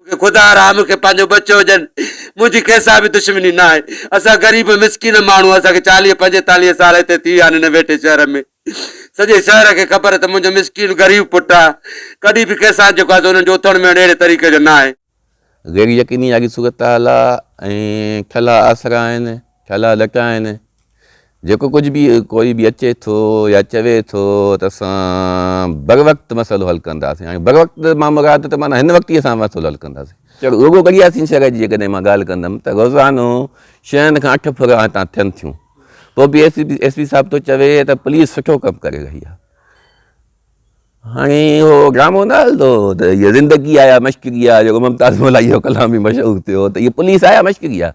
مونکي خدا رحه مونکي پنهنجو ٻچو ڄن منهنجي ڪنهنسان به دشمني نه آهي اسان غريب مسڪين ماڻهو اسان کي چاليهه پنجيتاليهه سال هتي ٿي ويا آهن هن ويٺي شهر ۾ سڄي شهر کي خبر ته منهنجو مسڪين غريب پٽ آهي ڪڏهن به ڪنهنسان جيڪو آهي سو انهن جو اٿڻ ويهڻ اهڙي طريقي جو نه آهي. غير يقيني واري صورتحال آهي ۽ ٺلها آسرا آهن ٺلها لٽا آهن جيڪو ڪجهه به ڪوئي به اچي ٿو يا چوي ٿو ته اسان بروقت مسئلو حل ڪنداسين هاڻي بروقت مان مراد ته معنيٰ هن وقت ئي اسان مسئلو حل ڪنداسين رڳو ڳڙهياسين شهر جي جيڪڏهن مان ڳالهه ڪندم ته روزانو ڇهن کان اٺ ڦر هتان ٿين ٿيون پوء B S P S P صاحب ٿو چوي ته پوليس سٺو ڪم ڪري رهي آهي هاڻي اهو ڊرامو نه هلندو ته هيء زندگي آيا مشڪري آهي جيڪو ممتاز مولائي جو ڪلام بي مشهور ٿيو ته هيء پوليس آيا مشڪري آهي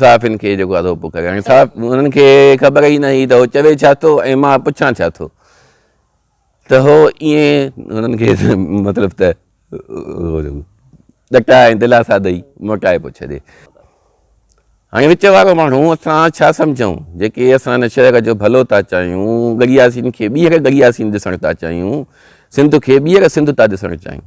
صحافين کي جيڪو اڌوپو ڪري هاڻي صاحب انهن کي خبر ئي نه هئي ته هو چوي ڇا ٿو ۽ مان پڇان ڇا ٿو ته هو ائين انهن کي مطلب ته ڏٽا ۽ دلاسا ڏئي موٽائي پيو ڇڏي هاڻي وچ وارو ماڻهو اسان ڇا سمجھون جيڪي اسان هن شهر جو ڀلو ٿا چاهيون گڙياسين کي ٻيهر گڙياسين ڏسڻ ٿا چاهيون سنڌ کي ٻيهر سنڌ ٿا ڏسڻ چاهيون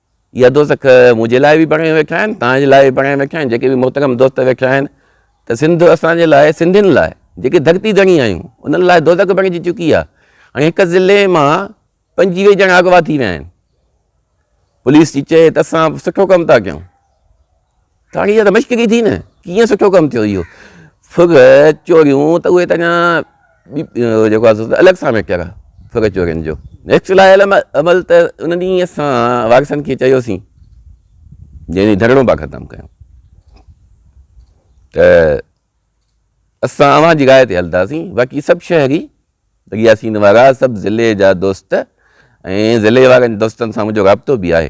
اها دوزخ منهنجي لاء به بڻائي ويٺا آهن توهان جي لاء به بڻائي ويٺا آهن جيڪي به محترم دوست ويٺا آهن ته سنڌ اسان جي لاء سنڌين لاء جيڪي ڌرتي ڌڻي آهيون انهن لاء دوزخ بڻجي چڪي آهي هاڻي هڪ ضلعي مان پنجي ويهه ڄڻا اغوا ٿي ويا آهن پوليس جي چئي ته اسان سٺو ڪم ٿا ڪيون ڪھاڻي جا ته مشق ڪئي ٿي نه ڪيئن سٺو ڪم ٿيو اهو ڦر چوريون ته اهي ته اڃا جيڪو آهي سو الڳ سان ميٽر آهي ڦر چورين جو نيڪسٽ لاء عمل ته ان ڏينهن اسان وارثن کي چيوسين جنهن ڏينهن ڌرڻو پا ختم ڪيو ته اسان اوهان جي راء تي هلنداسين باقي سڀ شهري ياسين وارا سڀ ضلعي جا دوست ۽ ضلعي وارن دوستن سان منهنجو رابطو به آهي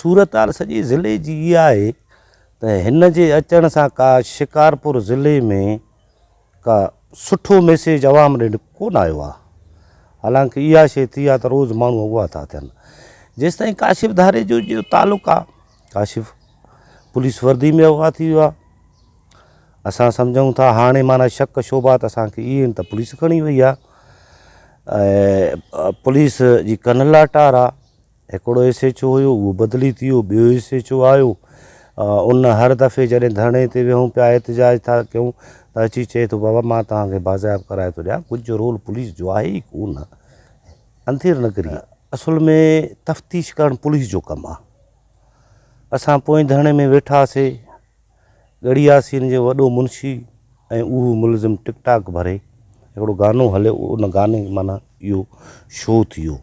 صورتحال سڄي ضلعي جي اها آهي ته هن جي اچڻ سان ڪا شڪارپور ضلعي ۾ ڪا سٺو ميسيج عوام ڏي ڪونه آيو آهي حالانڪه اها شي ٿي آهي ته روز ماڻهو اغوا ٿا ٿين جيستائين ڪاشف ڌاري جو جو تعلق آهي ڪاشف پوليس وردي ۾ اغوا ٿي ويو اسان سمجھون ٿا هاڻي مانا شڪ شوبات اسانکي اهي ته پوليس کڻي وئي آهي ۽ پوليس جي ڪن لاٽار آ هڪڙو ايس ايچ او هيو اهو بدلي ٿي ويو ٻيو ايس ايچ او آيو ان هر دفعي جڏهن ڌرڻي تي ويهون پيا احتجاج ٿا ڪيون ته اچي چئي ٿو بابا مان توهان کي بازياب ڪرائي ٿو ڏيان ڪجهه رول پوليس جو آهي ئي ڪون انڌير نگري اصل ۾ تفتيش ڪرڻ پوليس جو ڪم آ اسان پوئين ڌرڻي ۾ ويٺاسي ڳڙهي ياسين جو وڏو منشي ۽ اهو ملزم ٽڪ ٽاڪ ڀري هڪڙو گانو هليو ان گاني معنيٰ اهو شو ٿيو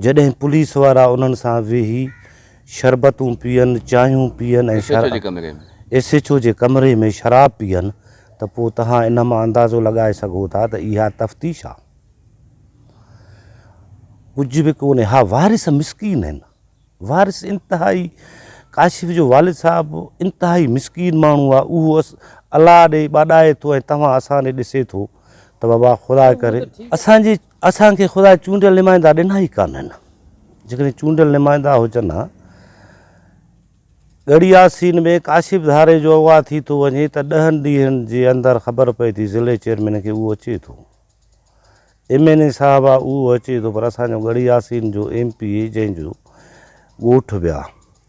جڏهن پوليس وارا انهن سان ويهي شربتون پيئن چانهيون پيئن ۽ ايس ايڇ او جي ڪمري ۾ شراب پيئن ته پوء تهان ان مان اندازو لڳائي سگهو ٿا ته اها تفتيش آ ڪجهه به ڪونهي اها وارث مسڪين هن. وارث انتهائي ڪاشف جو والد صاحب انتهائي مسڪين ماڻهو آ اهو الله ڏي ٻاڏائي ٿو ۽ توهان اسان ڏي ڏسي ٿو ته بابا خدا ڪري اسان جي اسان کي خدا چونڊيل نمائندا ڏنا ئي ڪانهن جيڪڏهن چونڊيل نمائندا هجن ها ڳڙهي ياسين ۾ ڪاشف ڌاري جو اغوا ٿي ٿو وڃي ته ڏهن ڏينهن جي اندر خبر پئي ٿي ضلعي چيئرمين کي اهو اچي ٿو ايم اين اي صاحب آ اهو اچي ٿو پر اسان جو ڳڙهي ياسين جو ايم پي اي جنهن جو ڳوٺ ويا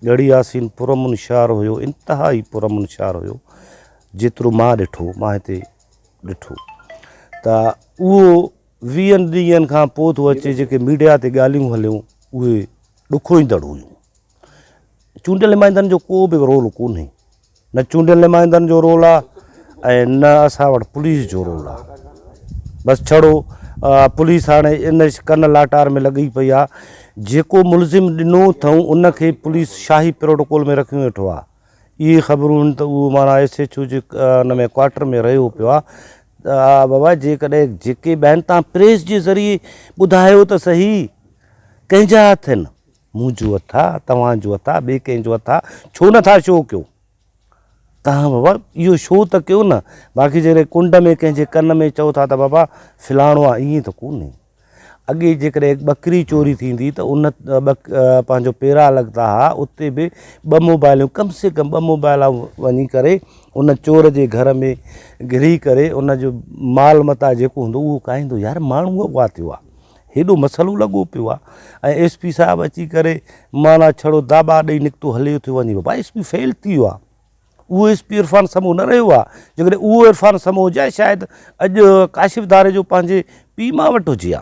ڳڙهي ياسين پرامن شهر هيو انتهائي پرامن شهر هيو جيترو مان ڏٺو مان هتي ڏٺو ته اهو ويهن ڏينهن کان پوء ٿو اچي جيڪي ميڊيا تي ڳالهيون هليون اهي ڏکوئيندڙ هيون چونڊيل نمائندن جو ڪو به رول ڪونهي نه چونڊيل نمائندن جو رول آ ۽ نه اسان وٽ پوليس جو رول آ بس ڇڙو پوليس هاڻي ان ڪن لاٽار ۾ لڳي پئي آ جيڪو ملزم ڏنو اٿئون ان کي پوليس شاهي پروٽوڪول ۾ رکيون ويٺو آ اهي خبرون هن ته اهو مانا ايس ايچ او جي ان ۾ ڪوارٽر ۾ رهيو پيو آ بابا جيڪڏهن جيڪي بهن تان پريس جي ذريعي ٻڌايو ته صحيح ڪنهن جا هٿ هن مون جو اٿا، توهان جو اٿا، ٻئي ڪنهن جو اٿا، ڇو نه ٿا شو ڪيو؟ توهان بابا اهو شو ته ڪيو نه، باقي جيڪڏهن ڪنڊ ۾ ڪنهن جي ڪن ۾ چئو ٿا ته بابا فلاڻو آ ائين ته ڪونهي. اڳي جيڪڏهن ٻڪري چوري ٿيندي ته ان پنهنجو پيرا لڳندا ها اتي به ٻه موبائلون ڪم سي ڪم ٻه موبائل وڃي ڪري ان چور جي گهر ۾ گهري ڪري ان جو مال متاع جيڪو هوندو اهو کائيندو يار ماڻهو اهو ٿيو آ. هيڏو مسئلو لڳو پيو آ ۽ ايس پي صاحب اچي ڪري معنيٰ ڇڙو داٻا ڏئي نڪتو هليو ٿيو وڃي بابا ايس پي فيل ٿي ويو آ اهو ايس پي عرفان سمو نه رهيو آ جيڪڏهن اهو عرفان سمو هجي آ شايد اڄ ڪاشف ڌاري جو پنهنجي پي ماء وٽ هجي آ